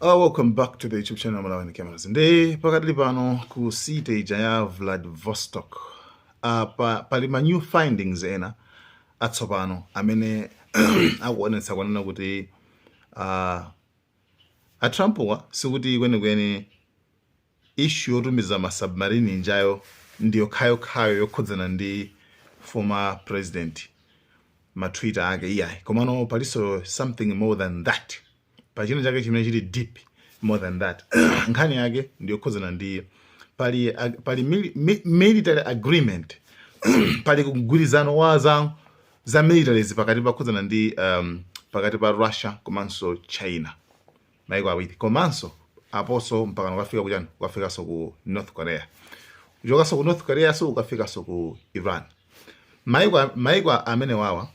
Uh, welcome back to the YouTube channel Malawian Cameras. Nde pakadali pano ku city ija ya Vladivostok. Uh, pa, pali ma new findings ena atsopano amene akuonetsa kwanena kuti uh, a Trump-wa sikuti kwenikweni issue yotumiza ma submarine ijayo ndiyokhayokhayo yokhudzana ndi former president ma twitter ake iyayi komano palinso something more than that pali china chake chimene chili deep more than that nkhani yake ndiyokhudzana ndi pali, ag- pali mili, mi, military agreement pali mgwirizano wa za za militaries pakati pakhudzana ndi um, pakati pa russia komanso china maiko awiri komanso aponso mpakana ukafika kuchani ukafikanso ku north korea uchokanso ku north korea-nso ukafikanso ku iran maiko maiko amene wawa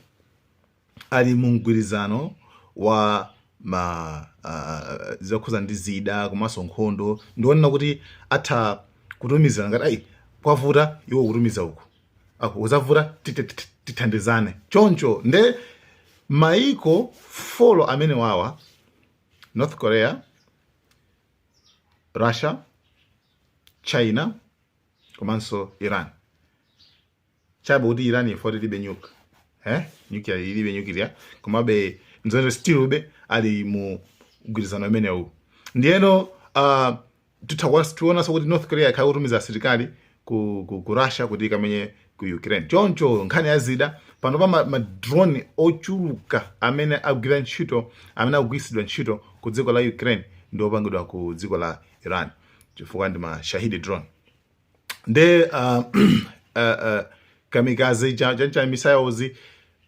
ali mu mgwirizano wa ma uh, zokhuza ndi zida komanso nkhondo ndionena kuti atha kutumizana ngati uyu kwavuta iwo kutumiza uku ako uzavuta tit- tit- tit- tithandizane choncho nde maiko folo amene wawa north korea russia china komanso iran chabe kuti iran if ilibe nyuka eh nyuklia ilibe nyuklia komabe nzawo still be ali mu mgwirizano umenewu ndiyeno uh, tionanso kuti north korea ikhala kutumiza asilikali ku, ku, ku russia kuti ikamenye ku ukraine choncho nkhani ya zida pano pa ma, ma drone ochuluka amene agwira ntchito amene akugwiritsidwa ntchito ku dziko la ukraine ndi opangidwa ku dziko la iran chifukwa ndi ma shahed drone nde uh, uh, uh, kamikaze cha cha- cha missiles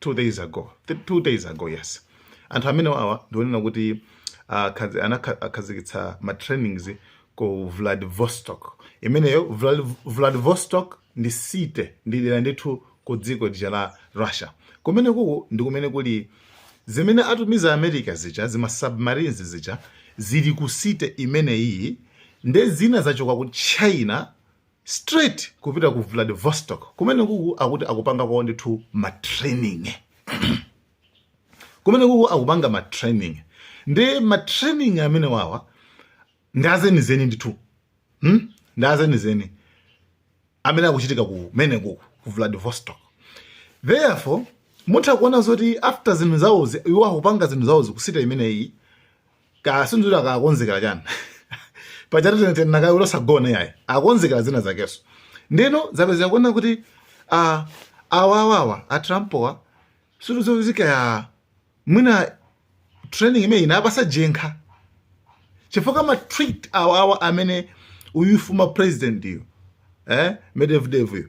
2 days ago 2 days ago yes anthu amene wawa ndionena kuti uh, anakhazikitsa ma trainings ku Vladivostok imeneyo Vladivostok ndi city ndi dera ndithu ku dziko lija la Russia kumene kuku ndi kumene kuli zimene atumiza America zija zima submarines zija zili ku city imeneyi nde zina zachoka ku China straight kupita ku vladivostok kumene kuku akuti akupanga kwawo ndithu ma training kumene kuku akupanga ma training ndi ma training amene wawa ndi azenizeni ndithu hmm? ndi azenizeni amene akuchitika kumene kuku ku vladivostok therefore mutha kuona zoti after zinthu zawozi iwo akupanga zinthu zawozi ku city imeneyi kaya sindikudziwa akakonzekera chani pajatu tene tene nakayo losagona yayi akonzekera zina zakenso ndeno zapezeka kuona kuti ah, awa awawa a trumpowa situzozika ya mwina training imeyi inapatsa jenkha chifukwa ma tweet awawa amene uyu former president yu eh, medvedev yu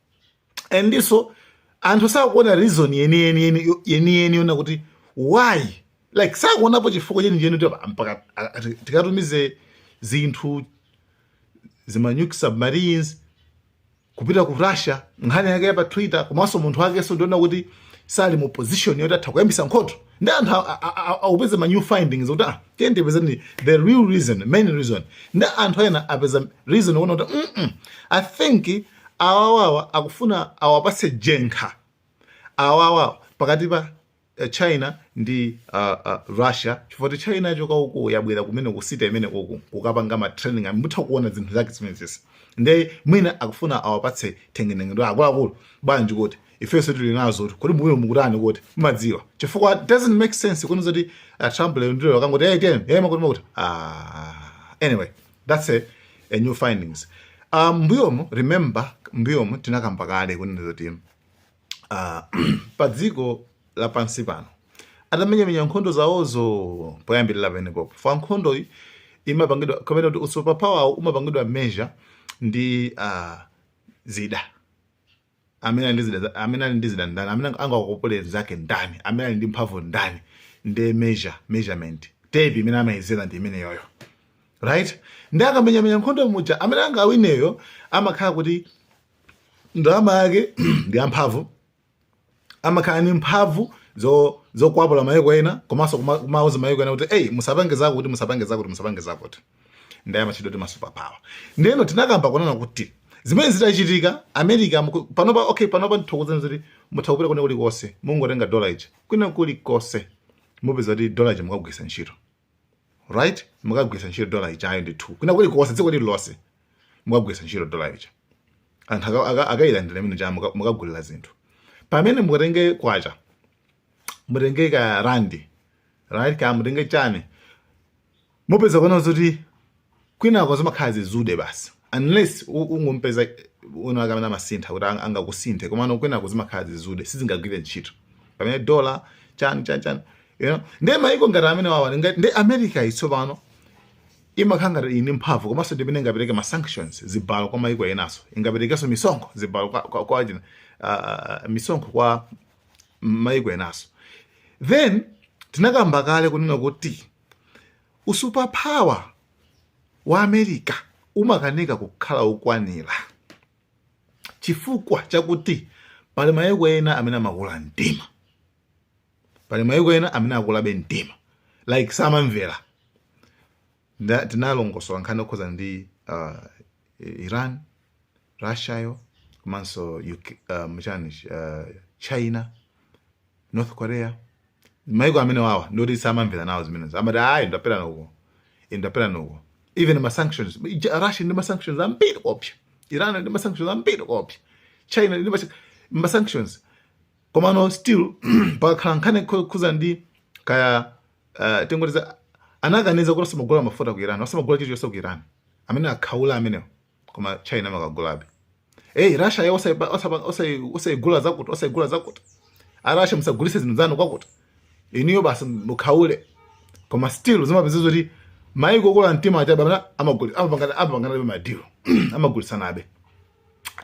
and so anthu sakuona reason yeniyeni yeni- yeniyeni yona kuti why like sakuonapo chifukwa chenicheni kuti apa- mpaka a- ati- tikatumize zinthu zimanuke submarines kupita ku russia nkhani yake ya pa twitter komanso munthu wakenso ndi ona kuti sali mu position yoti atha kuyambitsa nkhondo ndi anthu a- a- a- akupeza ma new findings kuti ah tiyeni tipezeni the real reason main reason ndi anthu ena apeza reason kuona kuti mm -mm, i think awawawa akufuna awapatse jenkha awawa pakati pa eh, china ndi uh, uh, russia chifukwa ti china yachoka uku yabwera kumene kusita imene kuku kukapanga ma training amene mutha kuona zinthu zake zimenezesi nde mwina akufuna awapatse thengenengedwa akuluakulu bwanji kuti ifenso tili nazo kuti kodi mwero mukutani kuti mumadziwa chifukwa it doesn't make sense kunena zoti uh, trump lero ndilero akangoti hey ten hey makuti makuti ah anyway That's a a new findings. Uh, mbuyomu remember mbuyomu tinakamba kale kunena zoti uh, pa dziko lapansi pano atamenyamenya nkhondo zawozo poyambirira penipenipo pa nkhondoyi imapangidwa kapena kuti usuper power umapangidwa measure ndi uh, zida amene ali ndi zida za- amene ali ndi zida ndani amene ang- angakopole mzake ndani amene ali ndi mphamvu ndani ndi measure measurement tape imene amayezera ndi imeneyoyo right ndi akamenyamenya nkhondo muja amene angawineyo amakhala kuti ndalama yake ndi yamphamvu amakhala ndi mphamvu zo zokwapula maiko ena komanso kumauza maiko ena kuti eyi musapange zakuti musapange zakuti musapange zakuti ndiye amatchedwa kuti masuper power ndeno tinakamba kunena kuti zimene zitachitika america panopa okay panopa ndithokoza zoti mutha kupita kwina kulikonse mungotenga dola ija kwina kulikonse mupeza kuti dola ija mukagwiritsa ntchito right mukagwiritsa ntchito dola ija ayi ndithu kwina kuli konse dziko lililonse mukagwiritsa ntchito dola ija anthu aka- aka- akayilandira imene ija muka- mukagulira zinthu pamene mukatenge kwacha mutenge ka randi right ka mutenge chani mupeza kuona kuti kwinako zimakhala zizude basi unless ungompeza winawake amene amasintha kuti angakusinthe komano kwinako zimakhala zizude sizingagwire ntchito pamene dola chani chani chani you know ndiye maiko ngati amene wawa ndi america tsopano imakhala ngati ili ndi mphamvu komanso ndimene ingapereke ma sanctions zibalo kwa maiko enanso ingaperekenso misonkho zibalo kwa, kwa, kwa, uh, misonkho kwa maiko enanso then tinakamba kale kunena kuti Usuperpower wa America umakanika kukhala ukwanira chifukwa chakuti pali mayiko ena amene amakula mtima, pali mayiko ena amene akulabe mtima like samamvera. Nda- Tinalongosola nkhani yokhudzana ndi uh, Iran Russia yo komanso UK, uh, mchani uh, China North Korea maiko amenewawa ndoti samamvera nawo zimenezo amati ayi ndaperani uko ndaperani uko even ma sanctions Russia ili ndi ma sanctions ambiri koopsa Iran ili ndi ma sanctions ambiri koopsa China ili ndi ma sanctions komano still pakakhala nkhani yokhudza ndi kaya uh, tingoti anaganiza kuti asamagula mafuta ku Iran asamagula chilichonse ku Iran amene akhaula amenewo koma china amakagulabe eyi russia yo osayigulitsa zakuti osayigulitsa zakuti a russia musagulise zinthu zanu kwakuti inuyo basi mukhaule koma still zimapezeka zoti maiko okula mtima achabana amapanganabe madilo amagulisanabe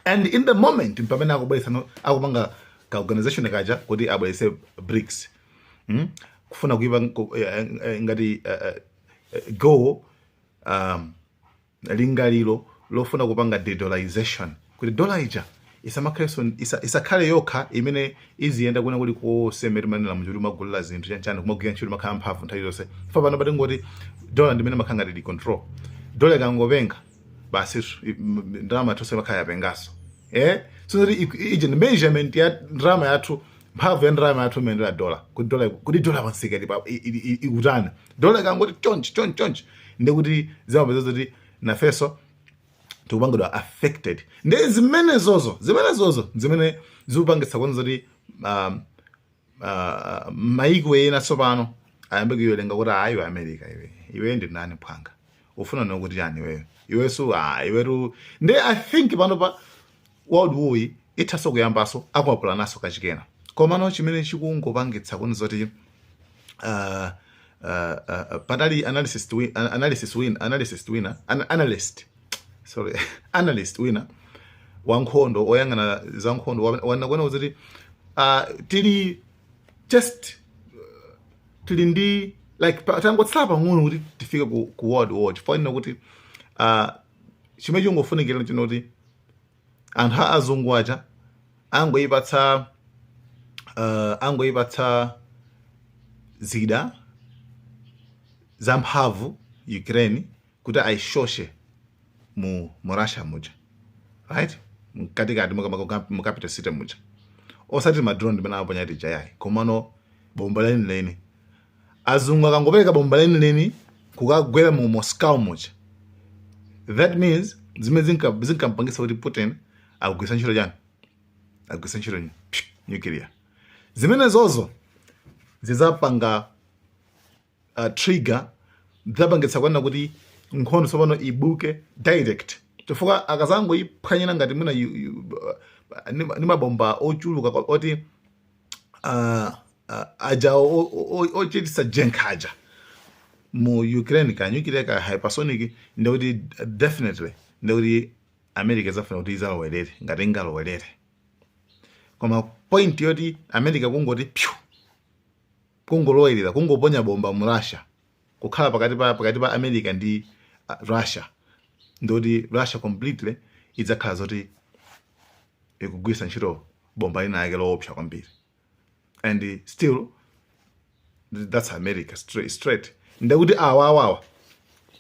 and in the moment pamene akubwelesanso akupanga ka organization kaja kuti abwelese brics hmm? kufuna kuipa eh, eh, ngati eh, go um, lingaliro lofuna kupanga de-dollarization kuti dollar ija isamakhalenso isa, isakhale yokha imene iziyenda kwina kulikonse mmene timanena muja kuti imagulira zinthu chanchani kumagwira ntchito imakhala mphamvu nthawi zonse chifukwa panopa tingoti dollar ndimene imakhala ngati control dollar ikangopenga basi i- m- m- ndalama yathu imakhala yapengaso eh so that i- i- ija ndi measurement ya ndalama yathu mphamvu ya ndalama yathu imeneyo ya dollar kuti dollar kuti dollar pamsika pa i- i- i- ikutani dollar ikangoti chonchi chonchi chonchi ndekuti zimapezeka zoti nafeso tikupangidwa affected nde zimenezozo zimenezozo zimene zikupangitsa kuona zoti um, uh, maiko ena tsopano ayambe kuyelenga kuti ayi wa america iwe iwe ndi nani phwanga ufuna nkuti chani iweyo iweso ah, iwetu nde i think panopa world war yi ithaso kuyambaso akwapulanenso kachikena komano chimene chikungopangitsa kuona zoti uh, uh, uh, panali analysis wi- an- analysis wina analysis wina an analyst sorry analyst wina wankhondo oyang'ana za nkhondo wa- wanena kunena kuti uh, tili just tili ndi like pa- tangotsala pang'ono kuti tifike ku, ku world war chifukwa chonena kuti uh, chimene chingofunikira nchonena kuti anthu a azungu aja angoipatsa uh, angoipatsa zida zamphamvu ukraine kuti ayisoshe mu, mu russia muja right mkatikati mu capital city muja osati madrone timene amaponya tija yayi komano bomba lenileni azungu akangopereka bomba lenileni kukagwera mu moscow muja that means zimene zinka- zinkampangisa kuti putin agwiritsa ntchito chani agwiritsa ntchito nyu- psh, nuclear zimenezozo zizapanga uh, trigger zapangitsa kunena kuti nkhondo tsopano ibuke direct chifukwa akazangoyiphwanyira ngati mwina yu- yu- uh, ndi ndi mabomba ochuluka kwa- oti uh, uh, aja ochitisa jenkha aja mu ukraine ka nuclear ka hypersonic ndekuti definitely ndekuti america izafuna kuti izalowerere ngati ingalowerere koma point yoti america kungoti pyu kungolowerera kungoponya bomba mu russia kukhala pakati pa pakati pa america ndi uh, russia ndikuti russia completely idzakhala zoti ikugwiritsa ntchito bomba lina yake loopsa kwambiri and still that's america straight, straight. ndekuti awa awawa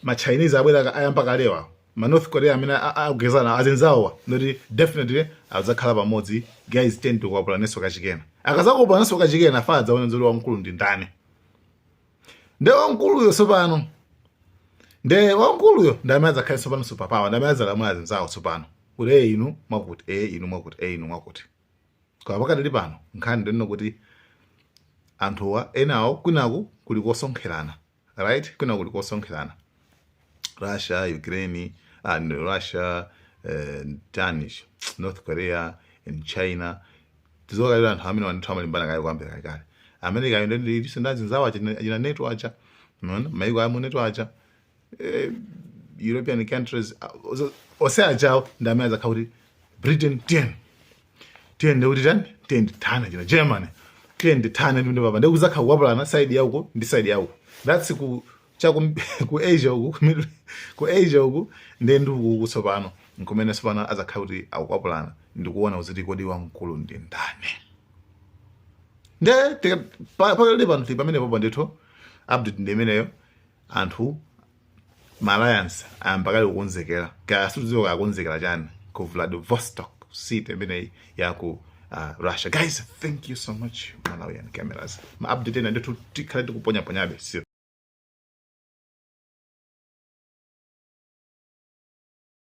machinese abwera ayamba kale awa manorth korea amene akugezana azinzawowa ndikuti definitely adzakhala pamodzi guys ten kukwapulananso kachikena akazakwapulananso kachikena kuti adzaone zoti wamkulu ndi ndani nde wamkuluyo tsopano nde wamkuluyo ndi amene adzakhale tsopano superpower ndi amene adzalamula azinzawo tsopano kuti inu mwakuti e inu mwakuti e inu mwakuti Koma pakadali pano nkhani ndiyonena kuti anthuwa enawo kwinaku kuli kusonkherana right, kwinaku kuli kusonkherana Russia, Ukraine, ah, Russia eh, Danish, North Korea and China tizokalira anthu amene wa ndithu amalimbana kale kwambiri kale kale America ndo ndithu ndi azinzawo achina NATO acha maiko amu NATO acha eh, european countries ose achawo ndi amene azakhala kuti britain ten ten ndikuti tani ten ndithana china germany ten ndithana ndi papa ndikuzakhala kukwapulana side yauko ndi side yauko that's ku cha ku, ku asia uku ku Middle- ku asia uku ndi ndi uku tsopano nkumene tsopano azakhala kuti akukwapulana ndikuona kuti kodi wamkulu ndi ndani nde tika- pa- pakali pano tili pamene popo ndithu update ndi imeneyo anthu ma alliance ayamba kale kukonzekera kaya sitidziwa kaya akonzekera chani ku vladivostok city imeneyi ya ku uh, russia guys thank you so much malawian cameras ma update ena ndithu tikhale tikuponyaponyabe sio